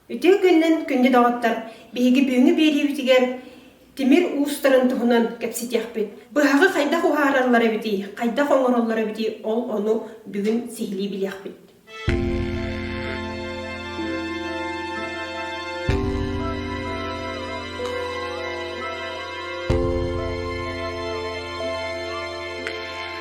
Үтүө күнүнэн күндү доҕоттор! Биһиги бүгүҥҥү биэриибитигэр тимир уустарын туһунан кэпсэтиэхпит. Быһаҕы хайдах уһаараллар эбитий, хайдах оҥороллор эбитий, ол ону бүгүн сиһилии билиэхпит.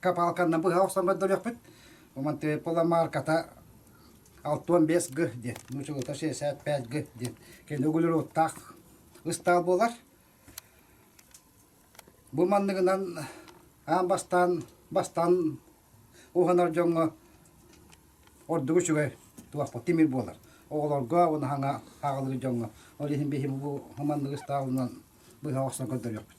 Капалканна быһа охсоммот дөлөхпүт. Умантыай пуламаарката алтуон бес г диэн, нуучулата шестьдесят пять г диэн. Кини угулируоттаах ыстаал буолар. Бу манныгынан аан бастаан бастаан уһанар дьоҥҥо ордук үчүгэй туохпут тимир буолар. Оҕолорго уна хаҥа хагалыр дьоҥҥо. Ол иһин биһи бу маннык ыстаалынан быһа охсон көрдөрүөхпүт.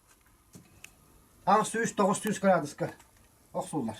аҕыс сүүс тоҕус сүүс кыраадыска охсуллар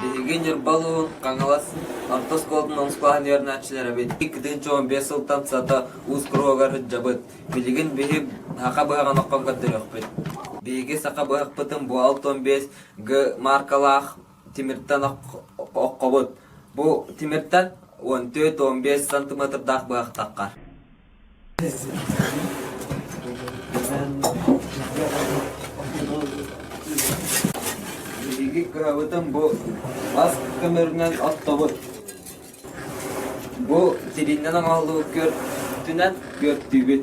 Биһиги Ньурбалыын Хаҥалас орто оскуолатын омуклааһын үөрэнээччилэрэ эбит. Иккитин чуумун биэс сылтан сата уус куруһугар сылдьабыт. Билигин биһи саха быһаҕын оккон көрдөрүөхпүт. Биһиги саха быһахпытын бу алта уон биэс г мааркалаах тимиртэн ок- оккобут. Бу тимиртэн уон төрт уон биэс сантиметрдаах быһахтаххар. Биһиги кырабытын бу бас көмөрүнэн оттобут. Бу тириннен аҕаллыбыт күөртүнэн күөртүүбүт.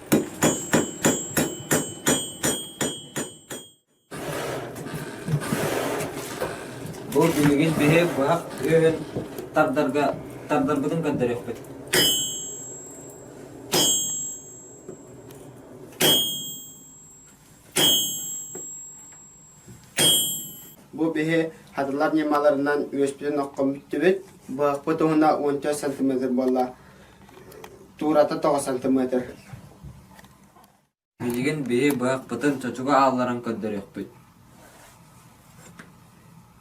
Бу билигин биһи быһах үөһүн тардарга тардарбытын көрдөрүөхпүт Бу биһи хатылар ньымаларынан үөспүтүн оххон бүттүбүт. Быһахпыт уһуна уон төрт сантыметр буолла. Туурата тоҕус сантыметр. Билигин биһи быһахпытын чочуга аалларан көрдөрүөхпүт.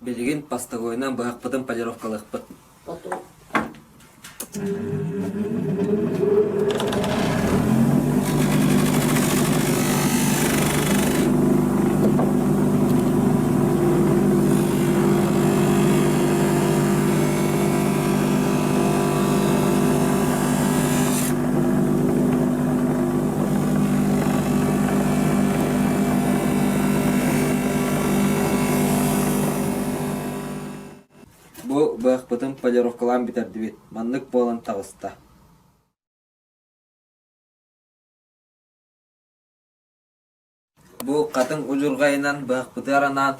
Билигин постовойунан быһахпытын полировкалыахпыт. Бу быахпытын полировкалаан бүтэрдибит, маннык буолан таҕыста Бу хатыҥ удьурҕайынан быахпытыгар анаан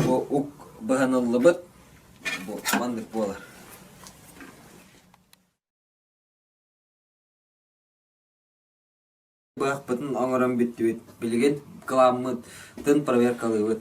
бу ук быһаныллыбыт бу маннык буолар. быһахпытын оҥорон бүттүбүт. Билигин кыламмытын проверкалыыбыт.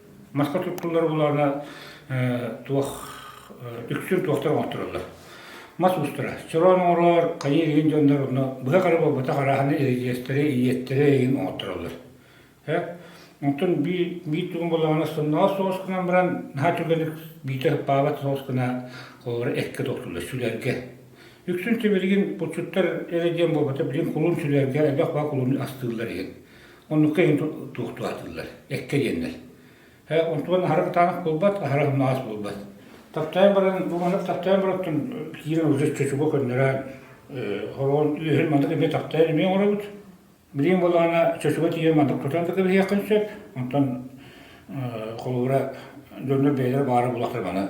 маска туттуллар булаана туох үксүн туохтар оҥоттороллор мас устара чороон оҥороор хайыы иһин дьоннор онно быһа хара буолбатах араһаны иридиэстэри ийиэттэри иһин оҥоттороллор онтон би бии тугун булаана сонноҕо соҕус гынан баран наһаа түгэник биитэ ыппаабат соҕус гына холлора экке тохтуллар сүлэргэ үксүн тимиригин бутчуттар эрэ диэн буолбата билин кулун сүлэргэ элбэх баа кулун астыыллар иһин Оннукка иһин туох туһатыллар, эккэ диэннэр. Онтубан аһара ытаанах буолбат, аһара humнаҕас буолбат. Таптаан баран, бу маннык таптаан бараттан киирэн уже чочуга көннөрөөн, хороон үөһүн маннык эмиэ таптаан эмиэ оҥоробут. Билиҥ буоллаҕына, чочуга тиийэн маннык тутан да кэбиһиэххин сөп. Онтон холобура, дьоннор бэйэлэрэ баара буоллахтар маны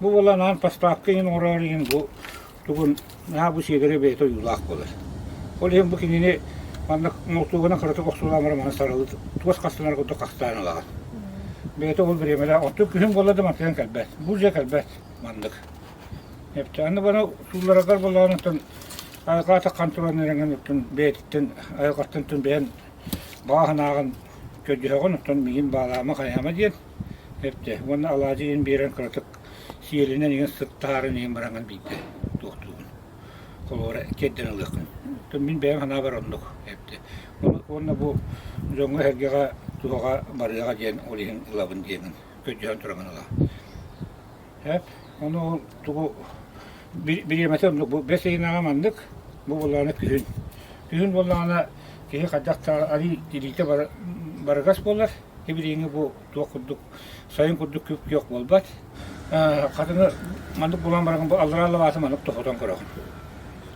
Бу буолан аан паспаакка иһин оҥороор иһин бу тугун наһаа бу сиэдэрэ бэйэтэ ойуулаах буолар. Ол иһин бу кинини манна молтуогана кыратык охсуулаамара маны саралы туос хастанар курдук хастаан ылаҕын. Бэйэтэ ол бириэмэлээх оттук күһүн буолла да мантан кэлбэт. Бу дьэ кэлбэт маннык. Эпти аны баны суулларагар боллааныттан айылҕата контрольнерыңын оттун бэйэтиттэн айылҕаттан тун бэйэн бааһынааҕын көдьүһөҕүн оттон миин баалаама хайаама диэн Эптэ уонна алаадьы иһин биэрэн кыратык сиэлинэн иҥэн сыт таһааран иһин быраҥан биирдэ туохтуубун. Холобура тиэрдэн ылыаххын. Оттон мин бэйэм ханаабар оннук эптэ. Уонна бу дьоҥҥо эһэргэҕэ туһаҕа барыаҕа диэн ол иһин ылабын диэҥин көдьөһөн туран ылаҕын. Эт ону тугу бириэмэтэ оннук бу бэс ыйынааҕа маннык бу буоллаҕына күһүн. Күһүн буоллаҕына киһи хайдах арыый илиитэ барыгас буолар Тибилиини бу туох курдук сайын курдук күөх буолбат. Хатыны маннык булан баран бу аллараа лабааты маннык тохотон көрөҕүн.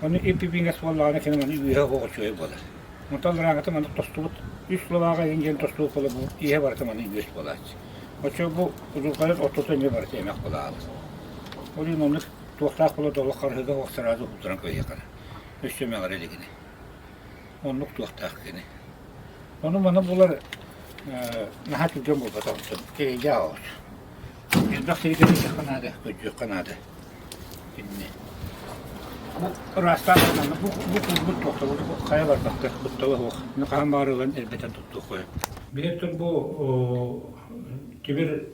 Ону ип-ипиҥэ суоллаҕына киниҥ аны үөһэ хоҕочуой буолар. Онтон лырааҥата маннык тостубут үс лабаҕа эҥин диэн тостубут буола бу иһэ барыта маннык үөс буолааччы. Оччо бу удурҕайар оттото эмиэ барыта эмэх булаалар. Ол иһин оннук туохтаах була долох харыһыга уохсараады уһуттаран кыйыхана. Үс эмэҕэр илигини. Оннук туохтаах кини. Ону-маны булар наһаа түргэн буолбатаҕыттан эрэйдэ аҕалар. Элбэх сиридэри иһиэххэ наада, көдьүөххэ наада. Инни. Бу ыраастаан гынанна, бу бу кузбут тохтобут хайа барбакка, быттала суох. Хаһан баарылан элбэтэн туттуохуйа. Билеттер бу Тимир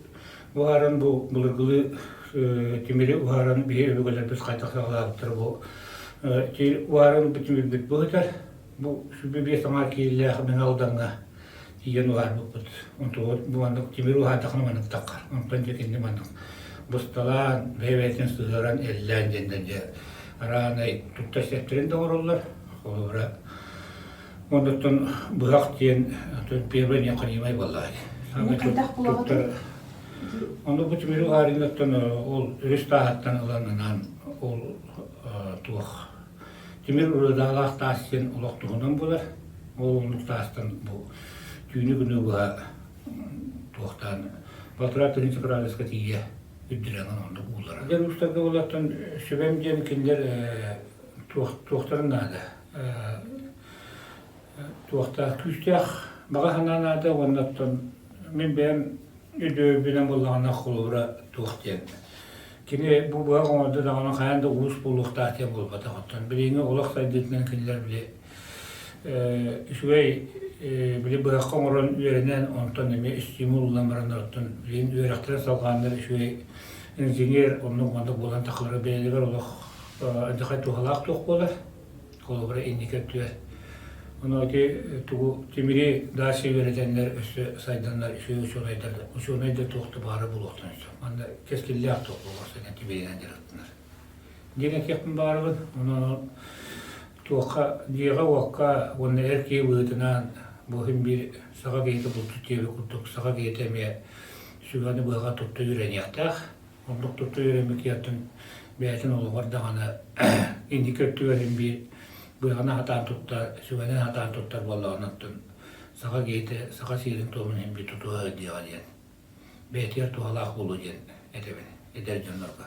Уһааран бу былыргылы тимири уһааран биһи өбүгэлэрбит хайдах саҕалаабыттар бу тимир уһааран бу тимирбит быһытар бу сүбү биэс аҥаар киирилээх Мэҥэ Алдаҥҥа тиийэн уһаарбыппыт. Онтугу бу маннык тимир уһаардаххына маннык таххар. Онтон дьэ кинини маннык бысталаан, бэйэбэтин сыһыаран эллээн диэннэр дьэ араанай тутта сиэптэрин да оҥороллор. Холобура Онуттан быһах диэн первый необходимый бывает. Хайдах булаҕытын? Ону бу тимиру аарыынаттан ол үс тааһаттан ыланынан ол туох тимир ырыдаалаах таас диэн олох туһунан булар. Ол олук таастан бу түүнү күнү быһа туохтаан Батыра тыһынчы правеска тиийэ үрдүрәңэн ондук уулара. Дэр устарга болаттан сүбэм диэн кинилэр туохтарын наада туохтаах күүстээх баҕа санаа наада уонна оттон мин бэйэм өйдөбүлүнэн буллаҕына холобура туох диэн кини бу быһа оҥорду даҕаны хайаан да уус буолуохтаах диэн буолбатах оттон билиҥҥи олох сайдыытынан кинилэр били үчүгэй били быһахха оҥорон үөрэнэн онтон эмиэ стимул ылан баран оттон билигин үөрэхтэрэ салҕааннар үчүгэй инженер оннук маннык буолан тахалара бэйэлэригэр олох адьахай туһалаах туох буолар холобура инники өттүгэр онооти тугу тимири дааси үөрэтэннэр өссө сайданнар үсү учуонайдар учуонай да туох да баара булуохтан сөп манна кэскиллээх туох буолуох сайдан тимиринэн дьарыктанар диэн этиэхпин баарыбын онон туохха дьиэҕэ уокка уонна эр киһи быһыытынан бу иһин биир саха киһитэ булту тиэбэ курдук саха киһитэ эмиэ сүгэни быһаҕа тутта үөрэниэхтээх Оннук тутуу өрөмүкүйэтин бэйэтин олоҕор даҕаны инники өттүгэр имби быаҕаны хатаан тутта, сүгэнэн хатаан туттар буоллаҕынаттан саха киһитэ саха сиэрин-туомун имби тутуһа диэҕэ диэн бэйэтигэр туһалаах буолуо диэн этэбин эдэр дьоннорго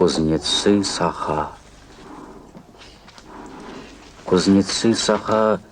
кузнецы саха кузнецы саха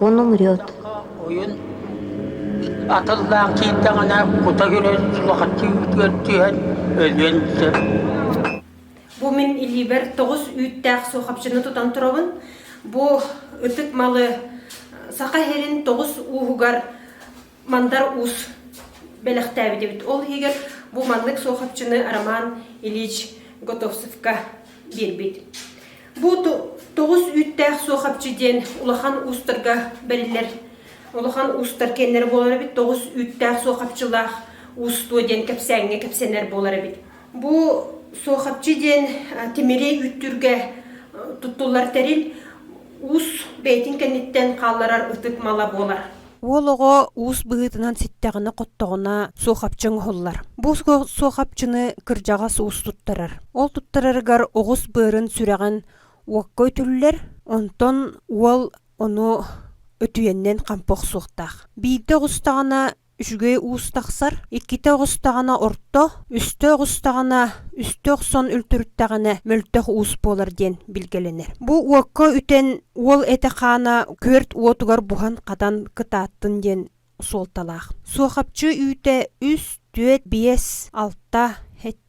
Уон умрет. Ойун атыллаан киирдэҕинэ кута көрөн суохаччы үүтүгэр түһэн өлүөн сөп. Бу мин илиибэр тоҕус үүттээх суохапчыны тутан турабын. Бу ытык малы саха иһэрин тоҕус ууһугар Мандар уус бэлэхтээбит эбит. Ол иһигэр бу маннык суохапчыны Роман Ильич Готовцевка биэрбит. Бу тоҕус үүттээх суохапчы диэн улахан уустарга бэриллэр. Улахан уустар кэннэр буолар эбит. Тоҕус үүттээх суохапчылаах уустуо диэн кэпсээҥҥэ кэпсэнэр буолар эбит. Бу суохапчы диэн тимири үүттүргэ туттуллар тэрил уус бэйэтин кэнниттэн хаалларар ытык мала буолар. Уол оҕо уус быһыытынан ситтэҕинэ-хоттоҕуна суохапчы оҥоһуллар. Бу суохапчыны кырдьаҕас уус туттарар. Ол туттарарыгар оҕус быарын сүрэҕин уокка өтүллэр, онтон уол ону өтүйэннэн хампа охсуохтаах. Биирдэ оҕустаҕына үчүгэй уус тахсар, иккитэ оҕустаҕына орто, үстэ оҕустаҕына үстэ охсон үлтүрүттэҕинэ мөлтөх уус буолар диэн билгэлэнэр. Бу уокка үтэн уол этэ-хаана күөрт уотугар буһан хатан кытааттын диэн суолталаах суохапчы үүтэ үс түөрт биэс алта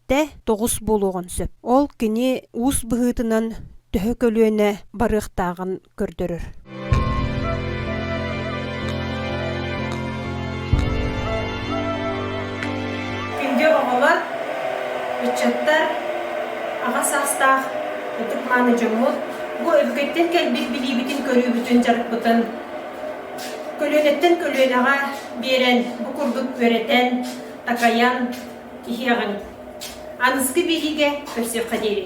сэттэ тоҕус буолуоҕун сөп ол кини уус быһыытынан төһө көлүөнэ барыахтааҕын көрдөрөр Күндү оҕолор, ыччаттар, аҕа саастаах Ытык-мааны дьоммут бу өбүкэттэн кэлбит билиибитин-көрүүбүтүн дьарыкпытын көлүөнэттэн көлүөнэҕэ биэрэн бу курдук үөрэтэн, такайан иһиэҕиҥ. Аныскы билиигэ көрсүөххэ диэри.